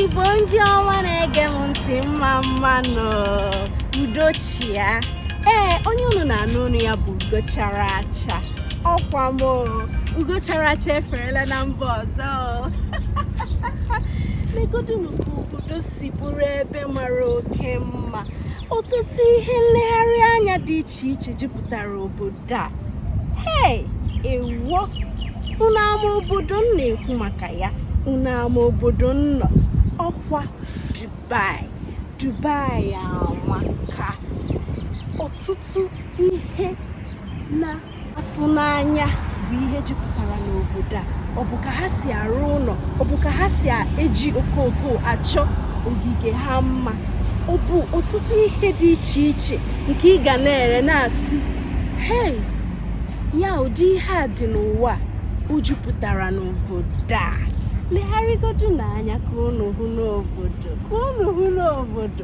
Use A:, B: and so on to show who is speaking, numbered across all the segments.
A: igbo ndị ọma na-ege m ntị mma mma nụ udo chịa ee onye unu na-anụ olu ya bụ ugo chara acha ọkwa m ugo chara acha eferela na mba ọzọ legodunu obodo si bụrụ ebe mara oke mma ọtụtụ ihe nlegharị anya dị iche iche jupụtara obodo a hei ewuo unu ama obodo m na-ekwu maka ya unu ama obodo m nọ ọkwa Dubai Dubai amaka ọtụtụ ihe na atụ n'anya bụ ihe jupụtara n'obodo a ọ bụ ka ha si arụ ụlọ ọ bụ ka ha si eji okooko achọ ogige ha mma ọ bụ ọtụtụ ihe dị iche iche nke ị ga na-ele na-asị hei ya ụdị ihe a dị n'ụwa o jupụtara n'obodo a legharịgodunu anya ka unu hụ n'obodo ka unu hụ n'obodo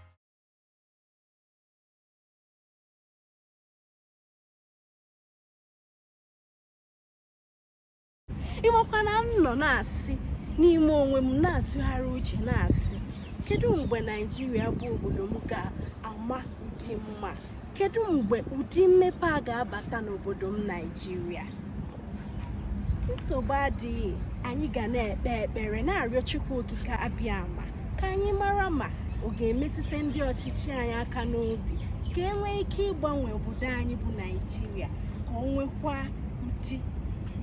A: ị makwa na m nọ na-asị n'ime onwe m na-atụgharị uche na-asị kedu mgbe naijiria bụ obodo m ga-ama ụdị mma Kedu mgbe ụdị mmepe a ga-abata n'obodo m Naijiria? Nsogbu adịghị, anyị ga na-ekpe ekpere na-arịọ Chukwu Okike Abịama ka anyị mara ma ọ ga-emetụta ndị ọchịchị anyị aka n'obi ka e nwee ike ịgbanwe obodo anyị bụ Naijiria ka o nwekwaa ụdị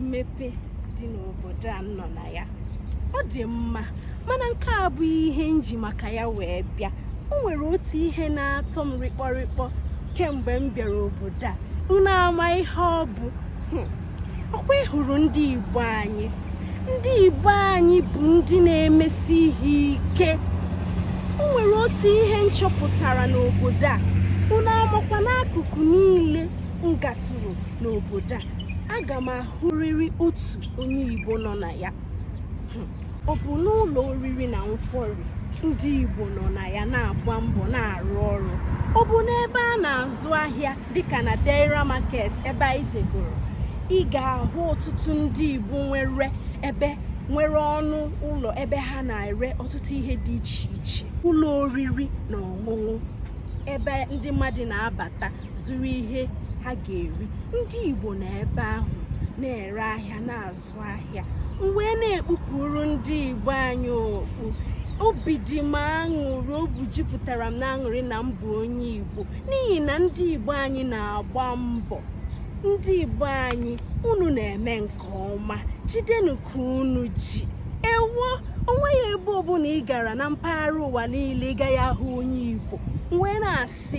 A: mmepe dị n'obodo a m nọ na ya ọ dị mma mana nke a abụghị ihe m ji maka ya wee bịa o nwere otu ihe na-atọ m rịkpọrịkpọ kemgbe m bịara obodo a unu ama ihe ọ bụ hmm. ọkwa ị hụrụ ndị igbo anyị ndị igbo anyị bụ ndị na-emesi ihe ike o nwere otu ihe m chọpụtara n'obodo a unu amakwa na akụkụ niile m gatụrụ n'obodo a aga m ahụrịrị otu onye igbo nọ na ya hmm. ọ bụ n'ụlọ oriri na nkwarị ndị igbo nọ na ya na-agba mbọ na-arụ ọrụ ọ bụ n'ebe a na-azụ ahịa dịka na Deira Market ebe anyị jegoro ị ga-ahụ ọtụtụ ndị igbo nwere ebe nwere ọnụ ụlọ ebe ha na-ere ọtụtụ ihe dị iche iche ụlọ oriri na ọṅụṅụ ebe ndị mmadụ na-abata zụrụ ihe ha ga-eri ndị Igbo nọ ebe ahụ na-ere ahịa na-azụ ahịa wee na-ekpupụrụ ndị Igbo anyị okpu obi dị m aṅụrị obi jupụtara m n'aṅụrị na m bụ onye Igbo n'ihi na ndị Igbo anyị na-agba mbọ ndị Igbo anyị unu na-eme nke ọma jidenu ka unu ji ewo onweghị ebe ọbụla ị gara na mpaghara ụwa niile ị gaghị ahụ onye Igbo wee na-asị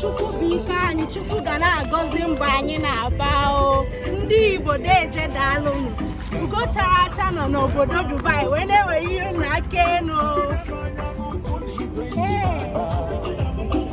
A: chukwu bụ ike anyị chukwu ga na-agọzi mbọ anyị na-agba o ndị igbo deeje daalụnụ ugo chara acha nọ n'obodo dubai wee na-ewere ihe na aka enu Hey.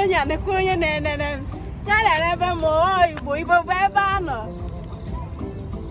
A: onye na-ekwu onye na-enene m ya na-ere ebe ma ọ igbo igbo bụ ebe a nọ